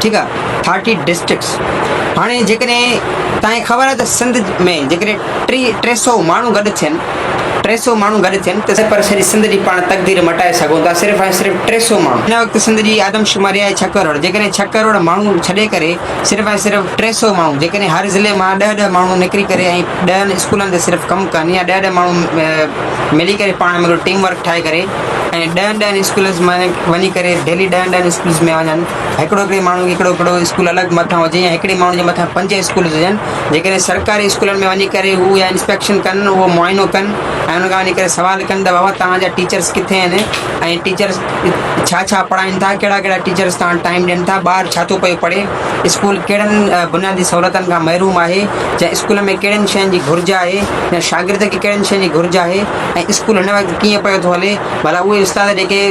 ٺيڪ آ thirty districts هاڻي جيڪڏهن توهان کي خبر آهي ته سنڌ ۾ جيڪڏهن ٽي ٽي سو ماڻهو گڏ ٿين ٽي سو ماڻهو گڏ ٿين ته پر سڄي سنڌ جي پاڻ تقدير مٽائي سگهون ٿا صرف ۽ صرف ٽي سو ماڻهو هن وقت سنڌ جي آدمشماري آهي ڇهه ڪروڙ جيڪڏهن ڇهه ڪروڙ ماڻهو ڇڏي ڪري صرف ۽ صرف ٽي سو ماڻهو جيڪڏهن هر ضلعي مان ڏهه ڏهه ماڻهو نڪري ڪري ۽ ڏهن اسڪولن تي صرف ڪم ڪن يا ڏهه ڏهه ماڻهو ملي ڪري پاڻ ۾ ٽيم ورڪ ٺاهي ڪري ۽ ڏهن ڏهن اسڪولز ۾ وڃي ڪري ڊيلي ڏهن ڏهن اسڪولز ۾ وڃن هڪڙو هڪڙي ماڻهو کي هڪڙو هڪڙو اسڪول الڳ مٿان هجي يا هڪڙي ماڻهو جي مٿان پنج اسڪولز هجن جيڪڏهن سرڪاري اسڪولن ۾ وڃي ڪري هو يا انسپيڪشن ڪن اهو معائنو ڪن ۽ ان کان وڃي ڪري سوال ڪن ته بابا توهان جا ٽيچرس ڪٿي آهن ۽ ٽيچرس ڇا ڇا پڙهائن ٿا ڪهڙا ڪهڙا ٽيچرس توهان ٽائيم ڏين ٿا ٻار ڇا ٿو پيو پڙهي اسڪول ڪهڙن بنيادي سهولتن کان محروم آهي جا اسڪول ۾ ڪهڙين شين جي گهرج آهي يا شاگرد کي ڪهڙين شين جي گهرج آهي ۽ اسڪول هن وقت ڪيئن پيو ٿو هلي؟ ڀلا اهي استاد جيڪي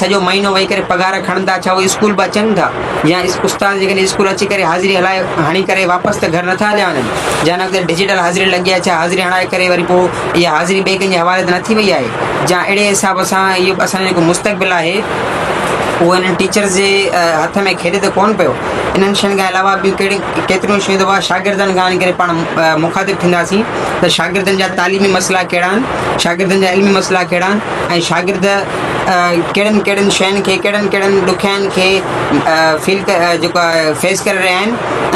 سڄو مهينو ويهي ڪري پگهار کڻن ٿا، ڇا اهي اسڪول به اچن ٿا؟ يا استاد جيڪي اسڪول اچي ڪري حاضري هلائي هڻي ڪري واپس ته گهر نٿا هليا وڃن؟ جا هن وقت ڊجيٽل حاضري لڳي آهي، ڇا حاضري هڻائي ڪري وري پوء اها حاضري ٻئي ڪنهن جي حوالي ته نٿي وئي آهي؟ جا اهڙي حساب سان اهو اسان جو جيڪو مستقبل آهي اهو انهن ٽيچرز جي هٿ ۾ کيڏي ته ڪونه پيو؟ انهن شين کان علاوه ٻيون ڪهڙيون ڪي ڪيتريون شيون دفعا شاگردن کان ان ڪري پاڻ مخاطب ٿينداسين ته شاگردن جا تعليمي مسئلا ڪهڙا آهن، شاگردن جا علمي مسئلا ڪهڙا آهن ۽ شاگرد ڪهڙن ڪهڙن شين کي ڪهڙن ڪهڙن ڏکيائين کي فيل جيڪو آهي فيس ڪري رهيا آهن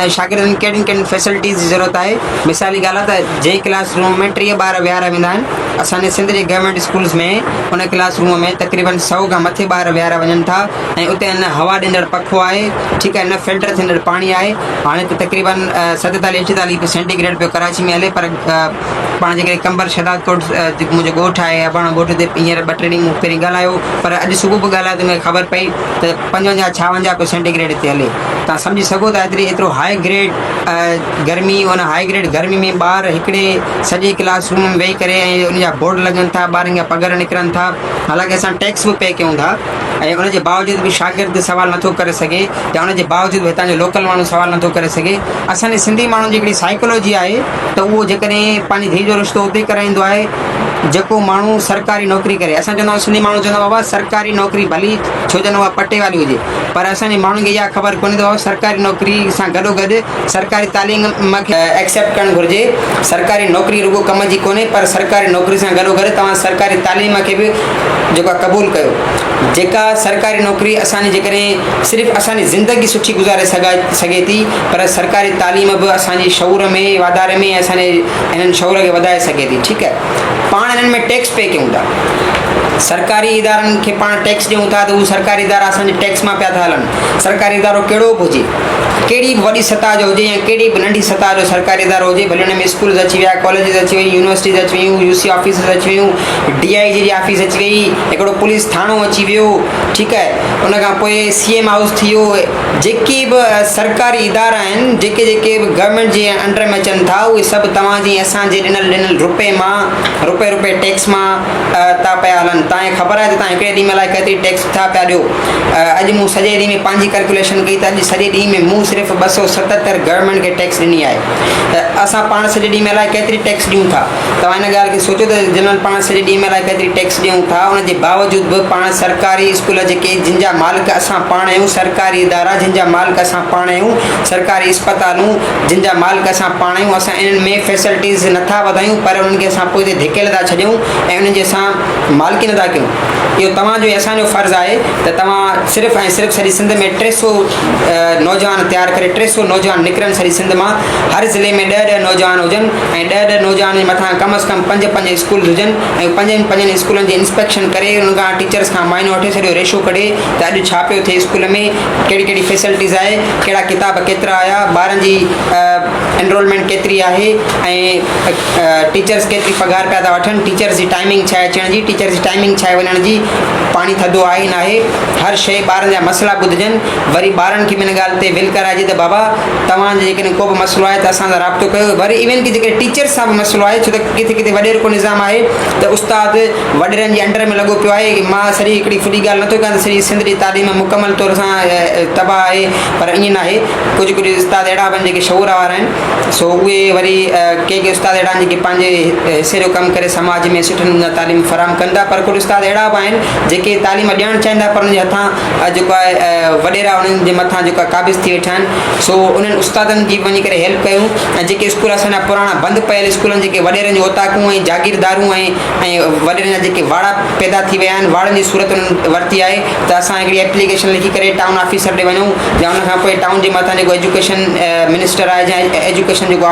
۽ شاگردن ڪهڙين ڪهڙين فيسلٽيز جي ضرورت آهي مثال جي ڳالهه آهي ته جنهن ڪلاس روم ۾ ٽيهه ٻار ويهاريا ويندا آهن اسان جي سنڌ جي گورمينٽ اسڪولس ۾ ان ڪلاس روم ۾ تقريبن سؤ کان مٿي ٻار ويهاريا وڃن ٿا ۽ اتي نه هوا ڏيندڙ پکو آهي ٺيڪ آهي نه فلٽر ٿيندڙ پاڻي آهي هاڻي ته تقريبا ستيتاليهه اٺيتاليهه سينٽي گريڊ پيو ڪراچي ۾ هلي پر پاڻ جيڪڏهن قمبر شهداد ڪوٽ جيڪو منهنجو ڳوٺ آهي اباڻو ڳوٺ تي هينئر ٻه ٽي ڏينهن مون پهرين ڳالهايو پر اڄ صبح به ڳالهايو ته مون کي خبر پئي ته پنجونجاهه ڇاونجاهه پيو سينٽي گريڊ هتي هلي تان سمجهي سگهو ٿا ايتري ايترو هاء گريڊ گرمي ان هاء گريڊ گرمي ۾ ٻار هڪڙي سڄي ڪلاس روم ۾ ويهي ڪري ۽ ان جا بورڊ لڳن ٿا ٻارن جا پگهر نڪرن ٿا حالانڪه اسان ٽيڪس به پي ڪيون ٿا ۽ ان جي باوجود به شاگرد سوال نٿو ڪري سگهي يا ان جي باوجود به هتان جو لوڪل ماڻهو سوال نٿو ڪري سگهي. اسان جي سنڌي ماڻهن جي هڪڙي سائيڪولوجي آهي ته اهو جيڪڏهن پنهنجي ڌيء جو رشتو اتي ڪرائيندو آهي جيڪو ماڻهو سرڪاري نوڪري ڪري. اسان چوندا آهيون سنڌي ماڻهو چوندا آهن بابا سرڪاري نوڪري ڀلي ڇو جن اها پٽي واري هجي پر اسان جي ماڻهن کي اها خبر ڪونهي ته بابا سرڪاري نوڪري سان گڏو گڏ سرڪاري تعليم کي ايڪسيپٽ ڪرڻ گهرجي. سرڪاري نوڪري رڳو ڪم جي ڪونهي پر سرڪاري نوڪري سان گڏو گڏ توهان سرڪاري تعليم کي به جيڪا قبول ڪيو. جيڪا سرڪاري نوڪري اسان جي جيڪڏهن صرف اسان جي زندگي سٺي گذاري سگهي ٿي پر سرڪاري تعليم به اسان جي شعور ۾ واڌاري ۾ ۽ اسان جي هنن شعور کي وڌائي سگهي ٿي ٺيڪ آهي پاڻ هنن ۾ ٽيڪس پي ڪيون ٿا سرڪاري ادارن کي پاڻ ٽيڪس ڏيون ٿا ته هو سرڪاري ادارا اسان جي ٽيڪس مان پيا ٿا هلن سرڪاري ادارو ڪهڙو به هجي ڪهڙي به وڏي سطح جو هجي يا ڪهڙي به ننڍي سطح جو سرڪاري ادارو هجي ڀلي هن ۾ اسڪولز اچي ويا ڪاليجز اچي ويون يونيورسٽيز اچي ويون يو سي آفيسز اچي ويون ڊي آء جي جي آفيس اچي وئي، هڪڙو پوليس ٿاڻو اچي ويو، ٺيڪ آهي، ان کان پوء سي ايم هائوس ٿي ويو، جيڪي به سرڪاري ادارا آهن، جيڪي جيڪي به گورنمينٽ جي انڊر ۾ اچن ٿا، اهي سڀ توهان جي ۽ اسان جي ڏنل ڏنل روپئي مان، روپئي روپئي ٽيڪس مان ٿا پيا هلن، توهان کي خبر آهي ته توهان هڪڙي ڏينهن ۾ الائي ڪيتري ٽيڪس ٿا پيا ڏيو، اڄ مون سڄي ڏينهن ۾ پنهنجي ڪلڪيوليشن ڪئي ته اڄ سڄي ڏينهن ۾ مون صرف ٻه سؤ ستهتر گورنمينٽ کي ٽيڪس ڏني آهي ته اسان پاڻ سڄي ڏينهن ۾ الائي ڪيتري ٽيڪس ڏيون ٿا. توهان ان ڳالهه کي سوچيو ته جنرل پاڻ سڄي ڏينهن ۾ الائي ڪيتري ٽيڪس ڏيون ٿا، ان جي باوجود به پاڻ سرڪاري اسڪول جيڪي جن جا مالڪ اسان پاڻ آهيون، سرڪاري ادارا جن جا مالڪ اسان پاڻ آهيون، سرڪاري اسپتالون جن جا مالڪ اسان پاڻ آهيون اسان انهن ۾ فيسلٽيز نه ٿا وڌايون پر انهن کي اسان پوئتي ڌڪيل ٿا ڇڏيون ۽ انهن جي اسان مالڪي نه ٿا ڪيون. اهو توهان جو ۽ اسان جو فرض آهي ته توهان صرف ۽ صرف سڄي سنڌ ۾ ٽي سؤ نوجوان تيار ڪري ٽي سؤ نوجوان نڪرن سڄي سنڌ مان هر ضلعي ۾ ڏهه ڏهه نوجوان هجن ۽ ڏهه ڏهه نوجوانن جي مٿان ڪم از ڪم پنج پنج اسڪولز هجن ۽ پنجن پنجن اسڪولن جي انسپيڪشن ڪري انهن کان ٽيچرس کان معائنو وٺي سڄو ريشو ڪڍي ته اڄ ڇا پيو ٿئي اسڪول ۾ ڪهڙي ڪهڙي فيسلٽيز آهي ڪهڙا ڪتاب ڪيترا آيا ٻارن جي انرولمينٽ ڪيتري آهي ۽ ٽيچرس ڪيتري پگهار پيا ٿا وٺن ٽيچرس جي ٽائمنگ ڇا آهي اچڻ جي ٽيچرس جي ٽائمنگ ڇا آهي وڃڻ جي پاڻي ٿڌو آهي ناهي هر شئي ٻارن جا مسئلا ٻڌجن وري ٻارن کي به ان ڳالهه تي ول ڪرائجي ته بابا توهان جي جيڪڏهن ڪو به مسئلو آهي ته اسان سان رابطو ڪيو وري ايون ڪي جيڪڏهن ٽيچرس سان به مسئلو آهي ڇو ته ڪٿي ڪٿي وڏير ڪو نظام آهي ته استاد وڏيرن جي انڊر ۾ لڳو پيو آهي مان سري هڪڙي ڦڏي ڳالهه نه ٿو ڪيان ته سري سنڌ جي تعليم مڪمل طور سان تباهه آهي پر ائين ناهي ڪجهه ڪجهه استاد اهڙا به آهن جيڪي شعور وارا آهن سو اهي وري ڪي ڪي استاد اهڙا آهن جيڪي پنهنجي حصي جو ڪم ڪري سماج ۾ سٺي نموني سان تعليم فراهم ڪن ٿا پر ڪجهه استاد اهڙا به آهن جيڪي تعليم ڏيڻ چاهين ٿا پر ان جي هٿان جيڪو آهي وڏيرا انهن جي مٿان جيڪو قابض ٿي ويٺا آهن سو انهن استادن جي وڃي ڪري هيلپ ڪيون ۽ جيڪي اسڪول اسان جا پراڻا بند پيل اسڪول آهن جيڪي وڏيرن جون اوطاقون ۽ جاگيردارون ۽ ۽ وڏيرن جا جيڪي واڙا پيدا ٿي ويا آهن واڙن جي صورت انهن ورتي آهي ته اسان هڪڙي ايپليڪيشن لکي ڪري ٽائون آفيسر ڏي وڃون يا ان کان پوء ٽائون جي مٿان جيڪو ايجوڪيشن منسٽر آهي جا ايجوڪيشن جيڪو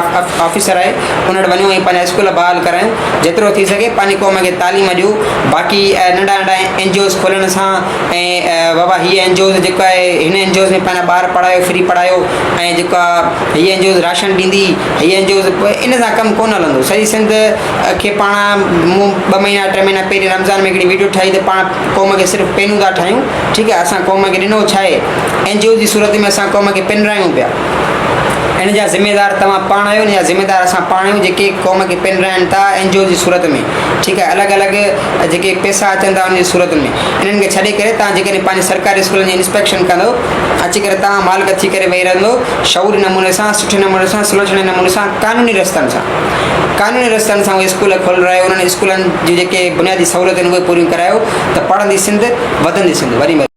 آفيسر آهي ان وٽ وڃون ۽ پنهنجا اسڪول بحال ڪرايون جيترو ٿي سگهي پنهنجي قوم کي تعليم ڏيو باقي ننڍا ننڍا اين جي اوز کولڻ سان ۽ بابا هيء اينجوز جيڪو آهي هن اينجوز ۾ پنهنجا ٻار پڙهايو فري پڙهايو ۽ جيڪو آهي هيء اينجوز راشن ڏيندي هيء اينجوز ان سان ڪم ڪونه هلندو سڄي سنڌ کي پاڻ مون ٻه مهينا ٽي مهينا پهرين رمضان ۾ هڪڙي ويڊيو ٺاهي ته پاڻ قوم کي صرف پينون ٿا ٺاهيون ٺيڪ آهي اسان قوم کي ڏنو ڇا آهي اينجوز جي صورت ۾ اسان قوم کي پنرايون پيا ان جا ذميوار توهان پاڻ آهيو ان جا ذميوار اسان پاڻ آهيون جيڪي قوم کي پنراين ٿا اينجوز جي صورت ۾ ٺيڪ آهي الڳ الڳ جيڪي پيسا اچن ٿا ان جي صورت ۾ انهن کي ڇڏي ڪري توهان جيڪڏهن پنهنجي سرڪاري اسڪولن جي انسپيڪشن ڪندو اچي ڪري توهان مالڪ ٿي ڪري ويهي رهندو شعوري نموني سان سٺي نموني سان سلوچڻي نموني سان قانوني رستن سان قانوني رستن سان اهي اسڪول کولرايو انهن اسڪولن جون جيڪي بنيادي سهولتون اهي پوريون ڪرايو ته پڙهندي سنڌ وڌندي سنڌ